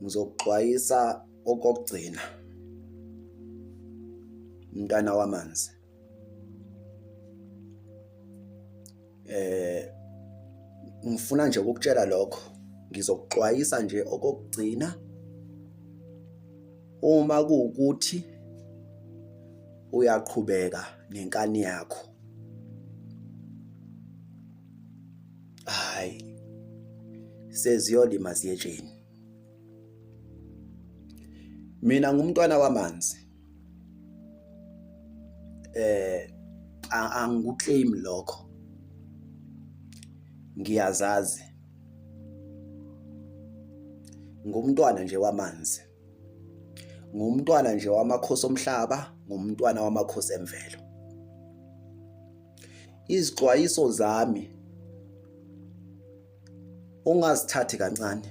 ngizokuxwayisa okokugcina umntana wamanzi eh ngifuna nje ukukutshela lokho ngizokuxwayisa nje okokugcina uma kuwukuthi uyaqhubeka nenkani yakho hayi seziyolima ziyetsheni mina ngumntwana wamanzi eh angikuclaim lokho ngiyazazi ngumntwana nje wamanzi ngumntwana nje wamakhosi omhlaba ngumntwana wamakhosi emvelo izixwayiso zami ungazithathi kancane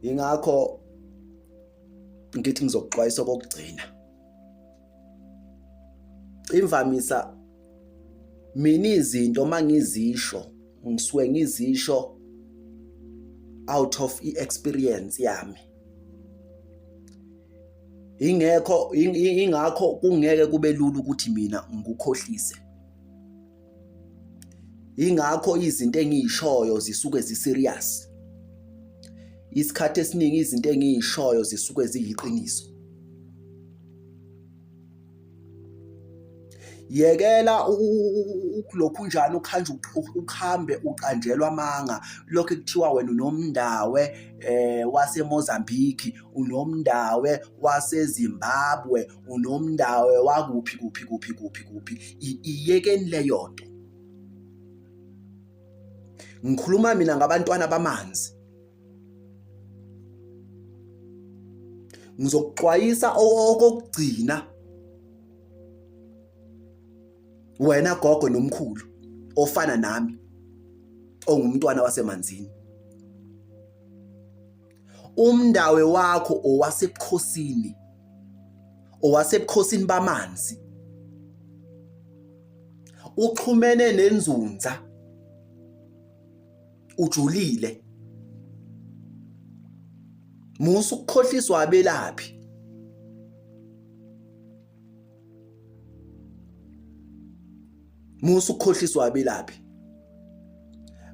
ingakho ngithi ngizokuxwayisa okokugcina imvamisa mina izinto mangizisho ngisuke ngizisho out of i-experience yami ingekho ingakho kungeke kube lula ukuthi mina ngikukhohlise ingakho izinto engiyishoyo zisuke ziserious isikhathi esiningi izinto engiyishoyo zisuke ziyiqiniso yekela lokhu njani ukhanje ukuhambe uqanjelwa amanga lokho kuthiwa wena unomndawe eh waseMozambique unomndawe waseZimbabwe unomndawe wakuphi kuphi kuphi kuphi kuphi iyekeni leyo nto ngikhuluma mina ngabantwana bamanzi ngizokuxwayisa okokugcina wena gogo nomkhulu ofana nami ongumntwana wasemanzini umndawe wakho owasebukhosini owasebukhosini bamanzi uxhumene nenzunza ujulile musa ukukhohliswa abelaphi musa ukukhohliswa abelaphi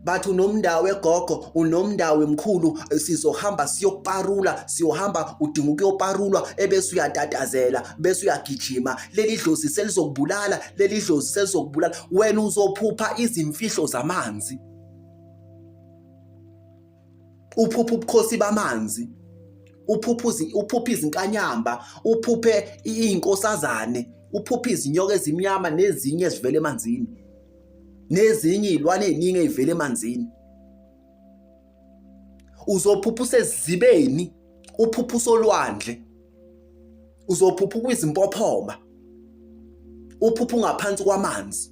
bathi unomndawo egogo unomndawo emkhulu sizohamba siyoparula siyohamba udinga ukuyoparulwa ebese uyatatazela bese uyagijima leli dlozi selizokubulala leli dlozi selizokubulala wena uzophupha izimfihlo zamanzi uphupha ubukhosi bamanzi uphupha uphupha izinkanyamba uphuphe izinkosazane uphupha izinyoka ezimnyama nezinye ezivela emanzini nezinye izilwane eziningi ezivela emanzini uzophupha usezibeni uphupha usolwandle uzophupha kwizimpophoma uphupha ungaphansi kwamanzi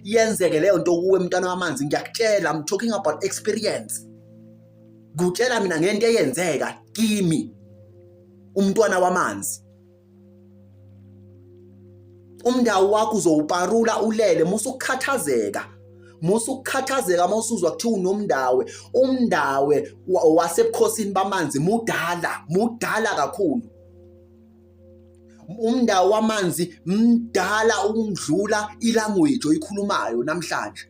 yenzeke leyo nto kuwe mntwana wamanzi ngiyakutshela i'm talking about experience kutshela mina ngento eyenzeka kimi umntwana wamanzi umndawo wakho uzowuparula ulele musa ukukhathazeka musa ukukhathazeka uma usuzwa kuthiwa unomndawe umndawe wasebukhosini bamanzi mudala mudala kakhulu umndawo wamanzi mdala ukundlula ilanguage oyikhulumayo namhlanje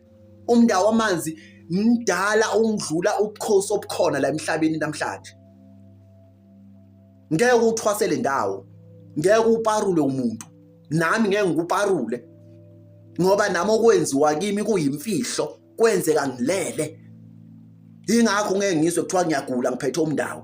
umndawo wamanzi mdala ukundlula ubukhosi obukhona la emhlabeni namhlanje ngeke uthwasele ndawo ngeke uparule umuntu nami ngeke ngikuparule ngoba nami okwenziwa kimi kuyimfihlo kwenzeka ngilele ingakho ngeke ngizwe kuthiwa ngiyagula ngiphethe umndawo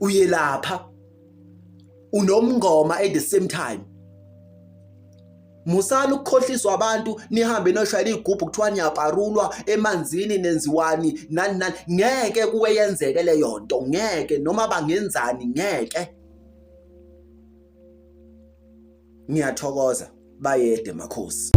uyelapha unomngoma at the same time musani ukukhohliswa abantu nihambe noshayela igubhu kuthiwa niyaparulwa emanzini nenziwani nani nani ngeke kuwe yenzeke leyo nto ngeke noma bangenzani ngeke ngiyathokoza bayede makhosi